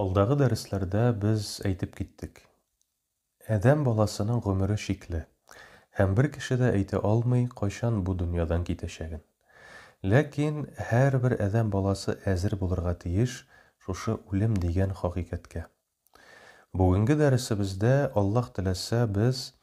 Алдагы дәресләрдә без әйтеп киттек. Адәм баласының гомере чикле, һәм бер кеше дә әйтә алмый, кайчан бу дөньядан китәчәген. Ләкин һәрбер адәм баласы әзер булырга тиеш шушы үлем дигән хакыйкатькә. Бүгенге дәресебездә, Аллаһ теләсә, без,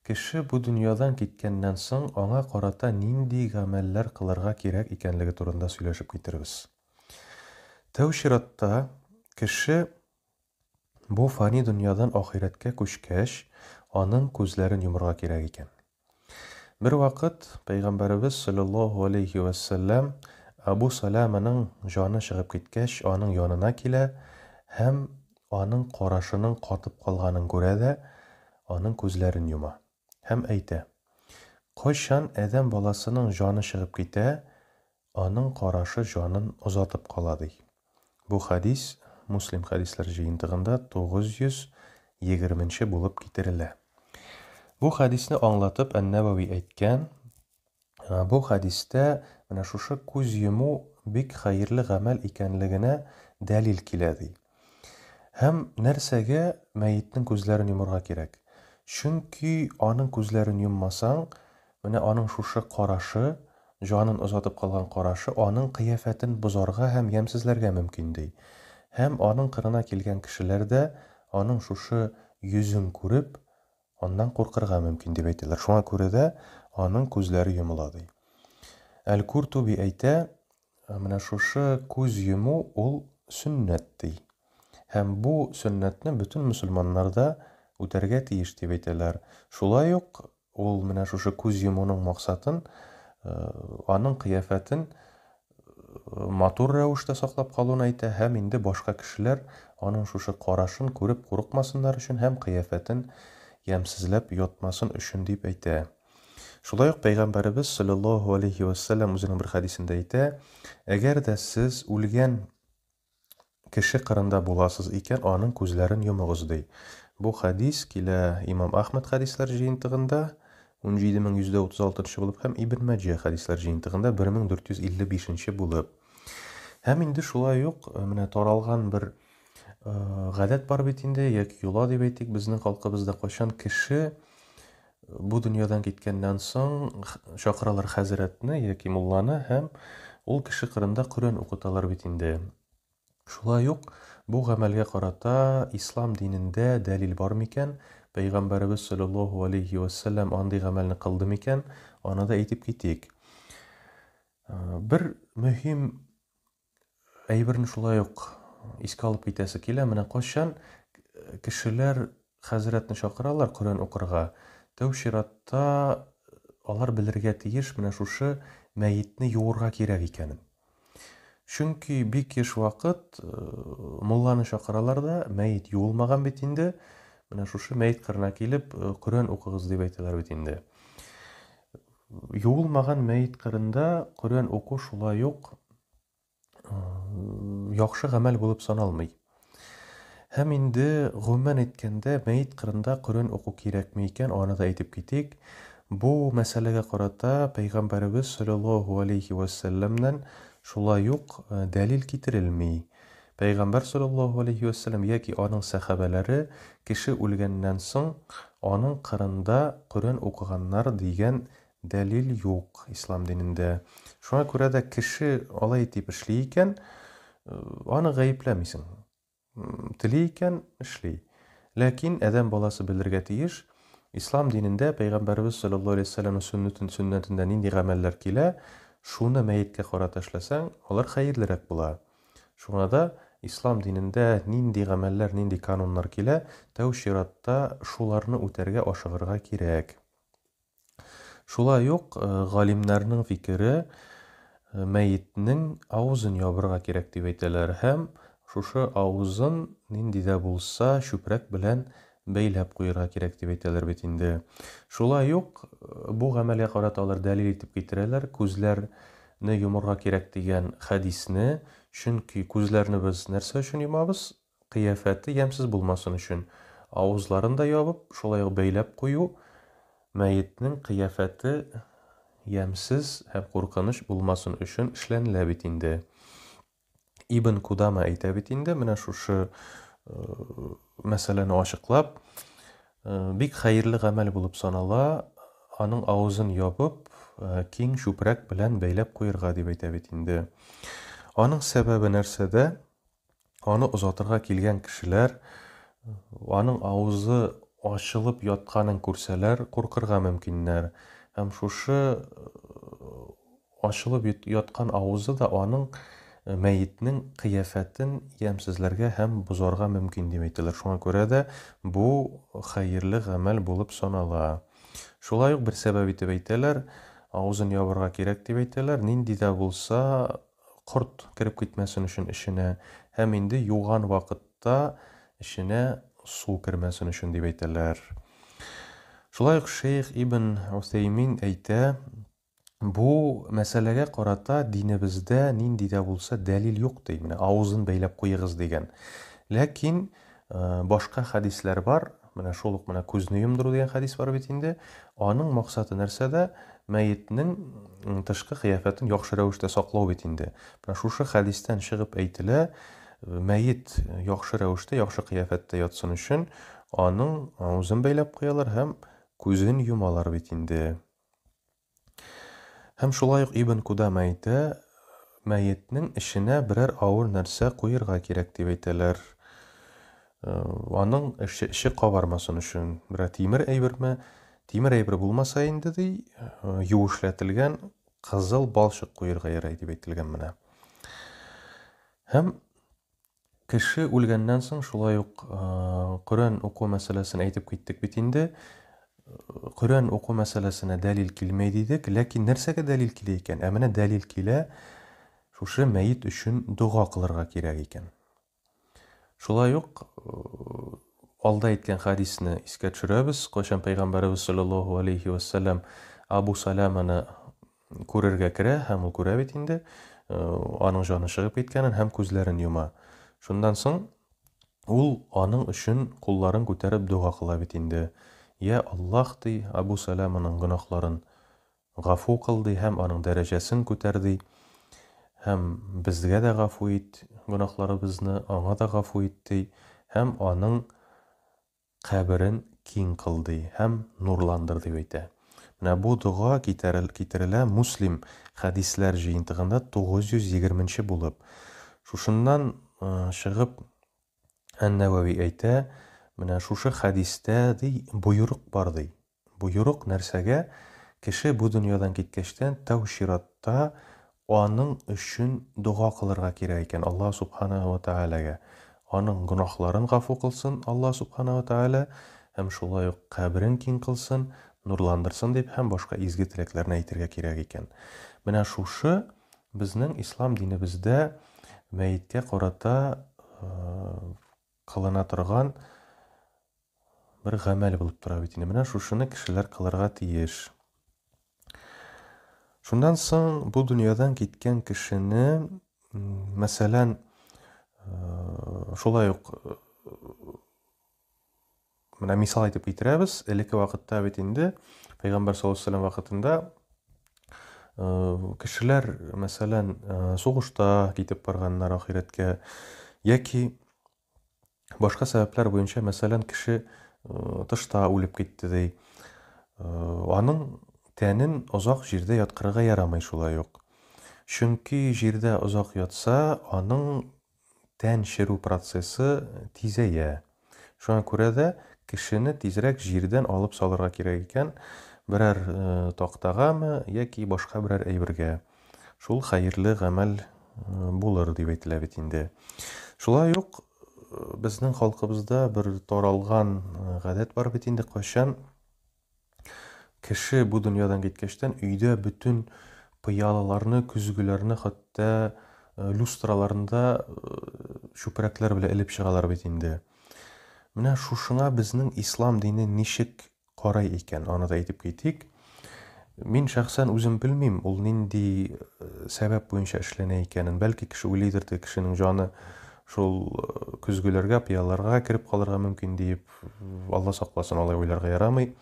кеше бу дөньядан киткәннән соң, аңа карата нинди гамәлләр кылырга кирәк икәнлеге турында сөйләшеп китербез. Тәү чиратта, кеше бу фани дөньядан ахирәткә күчкәч, аның күзләрен йомырга кирәк икән. Бервакыт пәйгамбәребез салләллаһу алейһи вә сәлләм Абу Саләманың җаны чыгып киткәч, аның янына килә һәм аның карашының катып калганын күрә дә, аның күзләрен йома. һәм әйтә, Кайчан адәм баласының җаны чыгып китә, аның карашы җанын озатып кала, ди. Бу хәдис Муслим хәдисләр җыентыгында 920 нче булып китерелә. Бу хәдисне аңлатып Ән-Нәвәви әйткән, Бу хәдистә менә шушы күз йому бик хәерле гамәл икәнлегенә дәлил килә, ди. Һәм нәрсәгә мәетнең күзләрен йомарга кирәк? Чөнки аның күзләрен йоммасаң, менә аның шушы карашы, җанын озатып калган карашы аның кыяфәтен бозарга һәм ямьсезләргә мөмкин, ди. Һәм аның кырына килгән кешеләр дә аның шушы йөзен күреп, Аннан куркырга мөмкин, дип әйтәләр. Шуңа күрә дә аның күзләре йомыла, ди. Әл-Куртуби әйтә, менә шушы күз йому ул сөннәт, ди. Һәм бу сөннәтне бөтен мөселманнар да үтәргә тиеш, дип әйтәләр. Шулай ук ул менә шушы күз йомуның максатын, аның кыяфәтен матур рәвештә саклап калуын әйтә һәм инде башка кешеләр аның шушы карашын күреп курыкмасыннар өчен һәм кыяфәтен ямьсезләп йотмасын өчен дип әйтә. Шулай ук Пәйгамбәребез, салләллаһу галәйһи вә сәлләм, үзенең бер хәдисендә әйтә, Әгәр дә сез үлгән Кеше кырында буласыз икән, аның күзләрен йомыгыз, ди. Бу хәдис килә Имам Әхмәд хәдисләр җыентыгында, 17136 нчы булып, һәм Ибн Мәҗә хәдисләр җыентыгында, 1455 нче булып. Һәм инде шулай ук, э, менә таралган бер э, гадәт бар бит инде, яки йола дип әйтик, безнең халкыбызда кайчан кеше Бу дөньядан киткәннән соң чакыралар хәзрәтне яки мулланы һәм ул кеше кырында Коръән укыталар бит инде. Шулай ук бу гамәлгә карата ислам динендә дәлил бар микән, пәйгамбәребез салләллаһу алейһи вә сәлләм андый гамәлне кылды микән, аны да әйтеп китик. Бер мөһим Әйберне шулай ук искә алып китәсе килә, менә кайчан кешеләр хәзрәтне чакыралар Коръән укырга, тәү чиратта алар белергә тиеш менә шушы мәетне юырга кирәк икәнен. Чөнки бик еш вакыт мулланы чакыралар да, мәет юылмаган бит инде, менә шушы мәет кырына килеп Коръән укыгыз дип әйтәләр бит инде. Юылмаган мәет кырында Коръән уку шулай ук яхшы гамәл булып саналмый. Һәм инде гомумән әйткәндә, мәет кырында Коръән уку кирәкме икән, аны да әйтеп китик. Бу мәсьәләгә карата Пәйгамбәребез салләллаһу алейһи вә сәлләмнән шулай ук дәлил китерелми. Пәйгамбәр салләллаһу галәйһи вә сәлләм яки аның сәхабәләре кеше үлгәннән соң аның кырында Коръән укыганнар дигән дәлил юк ислам динендә. Шуңа күрә дә кеше алай итеп эшли икән, аны гаепләмисең. Тели икән, эшли. Ләкин адәм баласы белергә тиеш, ислам динендә Пәйгамбәребез салләллаһу галәйһи вә сәлләмнең сөннәтен сөннәтендә нинди гамәлләр килә, шуны мәеткә карата эшләсәң, алар хәерлерәк була. Шуңа да Ислам динендә нинди гамәлләр, нинди кануннар килә, тәү чиратта шуларны үтәргә ашыгырга кирәк. Шулай ук галимнәрнең фикере, мәетнең авызын ябырга кирәк дип әйтәләр һәм шушы авызын нинди дә булса чүпрәк белән бәйләп куерга кирәк дип әйтәләр бит инде. Шулай ук бу гамәлгә карата алар дәлил итеп китерәләр, күзләрне йомырга кирәк дигән хәдисне, чөнки күзләрне без нәрсә өчен йомабыз? Кыяфәте ямьсез булмасын өчен. Авызларын да ябып, шулай ук бәйләп кую, мәетнең кыяфәте ямьсез һәм куркыныч булмасын өчен эшләнелә бит инде. Ибн Кудама әйтә бит инде, менә шушы э, мәсьәләне ачыклап, э, бик хәерле гамәл булып санала, аның авызын ябып, э, киң чүпрәк белән бәйләп куерга дип әйтә бит инде. Аның сәбәбе нәрсәдә? Аны озатырга килгән кешеләр аның авызы ачылып ятканын күрсәләр, куркырга мөмкиннәр. Һәм шушы Ачылып яткан авызы да аның мәетнең кыяфәтен ямьсезләргә һәм бозарга мөмкин дип әйтәләр, шуңа күрә дә бу хәерле гамәл булып санала. Шулай ук бер сәбәп итеп әйтәләр, авызын ябарга кирәк дип әйтәләр, нинди дә булса корт кереп китмәсен өчен эченә һәм инде юган вакытта эченә су кермәсен өчен дип әйтәләр. Шулай ук шәех Ибн Утэймин әйтә, Бу мәсьәләгә карата динебездә нинди дә булса дәлил юк, ди, менә авызын бәйләп куегыз дигән. Ләкин башка хәдисләр бар, менә шул ук менә күзне йомдыру дигән хәдис бар бит инде. Аның максаты нәрсәдә? Мәетнең тышкы кыяфәтен яхшы рәвештә саклау бит инде. Менә шушы хәдистән чыгып әйтелә, мәет яхшы рәвештә, яхшы кыяфәттә ятсын өчен аның авызын бәйләп куялар һәм күзен йомалар бит инде. Һәм шулай ук Ибн Кудама әйтә, мәетнең эченә берәр авыр нәрсә куерга кирәк дип әйтәләр. Аның эче кабармасын өчен. Берәр тимер әйберме? Тимер әйбер булмаса инде, ди, юешләтелгән кызыл балчык куерга ярый дип әйтелгән менә. Һәм Кеше үлгәннән соң шулай ук Коръән уку мәсьәләсен әйтеп киттек бит инде. Коръән уку мәсьәләсенә дәлил килмәй дидек, ләкин нәрсәгә дәлил килә икән? Ә менә дәлил килә, шушы мәет өчен дога кылырга кирәк икән. Шулай ук алда әйткән хадисне искә төшерәбез, кайчан пәйгамбәребез саллаллаһу алейһи вәссәлам Абу Саләманы Күрергә керә һәм ул күрә бит инде, аның җаны чыгып киткәнен һәм күзләрен йома. Шуннан соң ул аның өчен кулларын күтәреп дога кыла бит инде. Йә Аллаһ, ди, Абу Сәләманың гөнаһларын гафу кыл, ди, һәм аның дәрәҗәсен күтәр, ди. Һәм безгә дә гафу ит гөнаһларыбызны, аңа да гафу ит, ди, һәм аның каберен киң кыл, ди һәм нурландыр, дип әйтә. Менә бу дога китерелә Муслим хәдисләр җыентыгында 920 нче булып. Шушыннан чыгып, Ән-Нәвәви әйтә, Менә шушы хәдистә, ди, боерык бар, ди. Боерык нәрсәгә, кеше бу дөньядан киткәчтән тәү чиратта аның өчен дога кылырга кирәк икән Аллаһ Субханаһу ва Тәгаләгә, аның гөнаһларын гафу кылсын Аллаһ Субханаһу ва Тәгалә һәм шулай ук каберен киң кылсын, нурландырсын дип һәм башка изге теләкләрне әйтергә кирәк икән. Менә шушы безнең Ислам динебездә мәеткә карата кылына торган бер гамәл булып тора бит инде. Менә шушыны кешеләр кылырга тиеш. Шуннан соң бу дөньядан киткән кешене, мәсәлән, э, шулай ук э, Менә мисал итеп китерәбез, элекке вакытта бит инде пәйгамбәр саллаллаһу алейһи вакытында э, кешеләр, мәсәлән, э, сугышта китеп барганнар ахирәткә яки башка сәбәпләр буенча, мәсәлән, кеше э, тышта үлеп китте ди. Аның тәнен озак җирдә яткырырга ярамый шулай ук. Чөнки җирдә озак ятса, аның Тән черү процессы тизәя. Шуңа күрә дә кешене тизрәк җирдән алып салырга кирәк икән, берәр тактагамы яки башка берәр әйбергә. Шул хәерле гамәл булыр дип әйтелә бит инде. Шулай ук безнең халкыбызда бер таралган гадәт бар бит инде, кайчан Кеше бу дөньядан киткәчтән өйдә бөтен пыялаларны, көзгеләрне хәтта э, люстраларны да э, чүпрәкләр белән элеп чыгалар бит инде. Менә шушыңа безнең ислам дине ничек карай икән, аны да әйтеп китик. Мин шәхсән үзем белмим, ул нинди э, сәбәп буенча эшләнә икәнен. Бәлки кеше уйлыйдыр, кешенең җаны шул э, көзгеләргә, пыяларга кереп калырга мөмкин диеп. Алла сакласын, алай уйларга ярамый.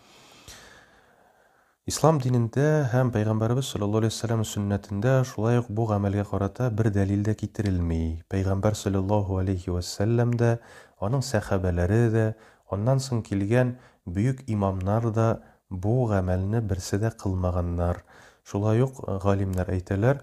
Ислам динендә һәм Пәйгамбәребез саллаллаһу алейһи вәсәлләм сөннәтендә шулай ук бу гамәлгә карата бер дәлил дә китерелми. Пәйгамбәр саллаллаһу алейһи вәсәлләм дә, аның сәхабәләре дә, аннан соң килгән бөек имамнар да бу гамәлне берсе дә кылмаганнар. Шулай ук галимнәр әйтәләр,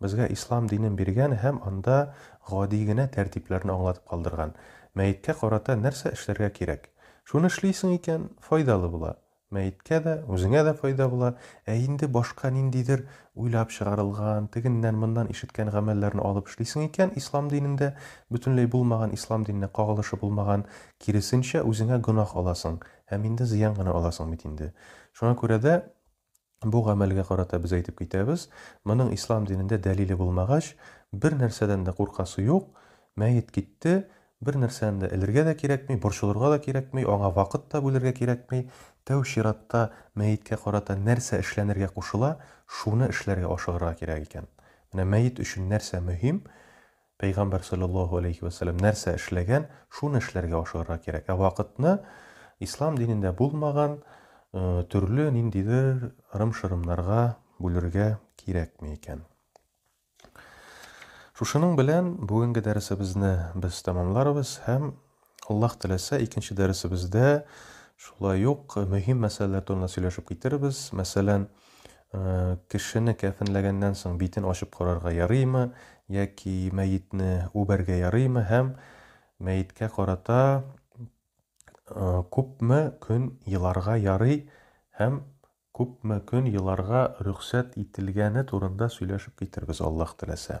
Безгә ислам динен биргән һәм анда гади генә тәртипләрне аңлатып калдырган. Мәеткә карата нәрсә эшләргә кирәк? Шуны эшлисең икән, файдалы була. Мәеткә дә, үзеңә дә файда була. Ә инде башка ниндидер уйлап чыгарылган, тегеннән-моннан ишеткән гамәлләрне алып эшлисең икән, ислам динендә бөтенләй булмаган, ислам диненә кагылышы булмаган, киресенчә, үзеңә гөнаһ аласың һәм инде зыян гына аласың бит инде. Шуңа күрә дә. Бу гамәлгә карата без әйтеп китәбез, моның ислам динендә дәлиле булмагач, бер нәрсәдән дә куркасы юк, мәет китте, бер нәрсәне дә элергә дә кирәкми, борчылырга да кирәкми, аңа вакыт та бүлергә кирәкми, тәү чиратта мәеткә карата нәрсә эшләнергә кушыла, шуны эшләргә ашыгырга кирәк икән. Менә мәет өчен нәрсә мөһим, Пәйгамбәр салләллаһу галәйһи вә сәлләм нәрсә эшләгән, шуны эшләргә ашыгырга кирәк. Ә вакытны Ислам динендә булмаган төрле ниндидер ырым-шырымнарга бүлергә кирәкми икән. Шушының белән бүгенге дәресебезне без тәмамларбыз һәм Аллаһ теләсә, икенче дәресебездә шулай ук мөһим мәсьәләләр турында сөйләшеп китербез. Мәсәлән, кешене кәфенләгәннән соң битен ачып карарга ярыймы, яки мәетне үбәргә ярыймы һәм мәеткә карата күпме көн еларга ярый һәм күпме көн еларга рөхсәт ителгәне турында сөйләшеп китербез, Аллаһ теләсә.